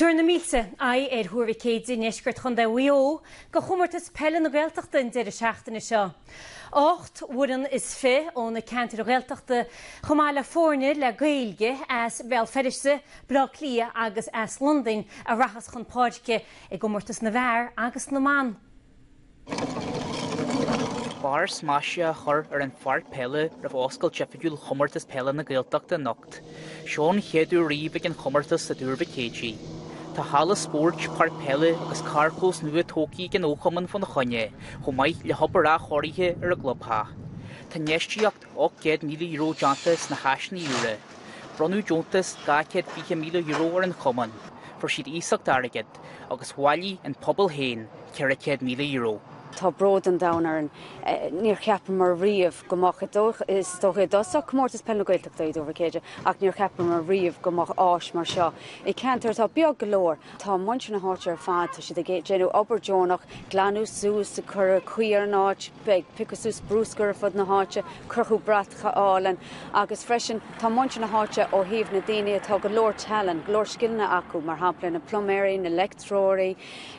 Tabharfaidh na mílte aghaidh ar Thuar Mhic Éadaigh i ndeisceart Chontae Mhaigh Eo do Chomórtas Peile na Gaeltachta an deireadh seachtaine seo. Ocht bhfoireann is fiche ó na ceantair Ghaeltachta chomh maith le foirne le Gaeilge as Béal Feirste, Baile Átha Cliath agus as Londain a rachas chun páirce i gcomórtas na bhfear agus na mban. Barr maise á chur ar an pháirc peile roimh oscailt oifigiúil Chomórtas Peile na Gaeltachta anocht. Seo an chéad uair riamh ag an chomórtas i dTuar Mhic Éadaigh. Tá halla spóirt, páirc peile agus carrchlós nua tógtha ag an fhochumann fá na choinne, chomh maith le hobair athchóirithe ar an gclubtheach. Tá infheistíocht €800,000 déanta sna háiseanna úra. Bronnadh deontas €220,000 ar an chumann. Fuair siad iasacht airgid. Agus bhailigh an pobal féin €400,000. Tá bród an domhain orainn. Níor cheapamar riamh go mbeadh, is dócha, i dtosach, Comórtas Peile na Gaeltachta i dTuar Mhic Éadaigh ach níor cheapamar riamh go mbeadh áis mar seo i gceantar atá beag go leor. Tá muintir na háite ar fad, tá siad ag déanamh obair deonach, glanadh suas, ag cur caoi ar an áit. Ag piocadh suas bruscar ar fud na háite, crochadh bratacha álainn agus freisin tá muintir na háite ó thaobh na daoine atá go leor tallann, go leor scileanna acu, mar shampla na pluiméirí, na leictreoirí,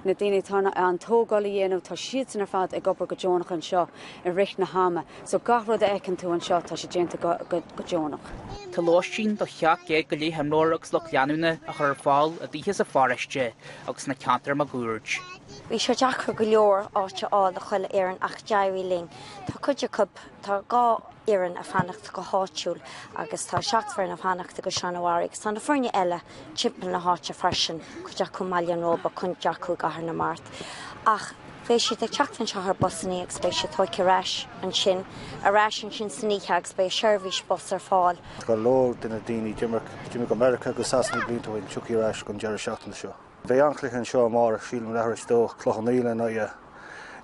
na daoine atá in ann tógáil a dhéanamh, tá siadsan ar fad ag obair go deonach anseo i rith na hama. So gach rud a fheiceann tú anseo, tá sé déanta go deonach. Tá lóistín do sheacht gcéad go leith imreoir agus lucht leanúna á chur ar fáil i dtithe sa pharóiste agus sna ceantair máguaird. Bhí sé deacair go leor áit a fháil do chuile fhoireann ach d'éirigh linn. Tá cuid acu, tá dhá fhoireann ag fanacht go háitiúil agus tá seacht bhfoireann ag fanacht i gCaisleán an Bharraigh agus tá na foirne eile timpeall na háite freisin, cuid acu i mBaile an Róba, cuid acu i gCathair na Mart. Ach beidh siad ag teacht anseo ar busanna agus beidh siad tógtha ar ais ansin, ar ais ansin san oíche agus beidh seirbhís bus ar fáil. Go leor de na daoine a d'imigh go Meiriceá agus Sasana blianta ó shin, tiocfaidh ar ais an deireadh seachtaine seo. Beidh an-chluiche anseo amárach, sílim, leath tar éis a dó, Cloich Cheann Fhaola in aghaidh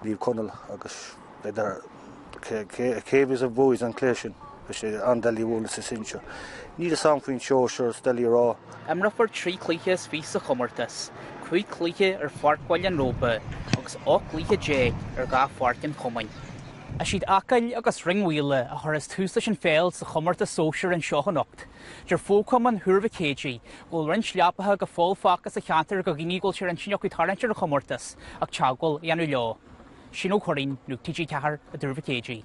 Naomh Conaill agus b'fhéidir cibé a bhuafas an cluiche sin. Beidh sé an-doiligh a bhualadh sa sinsear. Níl fhios a'm faoin sóisear, is doiligh a rá. Imreofar trí chluiche is fiche sa chomórtas, cúig chluiche ar pháirc Bhaile an Róba agus 18 gcluiche ar dhá pháirc an chumainn. Is iad Acaill agus Rinn Mhaoile a chuirfeas tús leis an pheil sa chomórtas sóisear anseo anocht. Deir fochumann Thuar Mhic Éadaigh go bhfuil roinnt leapacha go fóill fágtha sa cheantar do dhaoine a bhfuil sé ar intinn acu tarraingt ar an chomórtas ach teagmháil a dhéanamh leo. Shane Ó Curraighín, Nuacht TG4 i dTuar Mhic Éadaigh.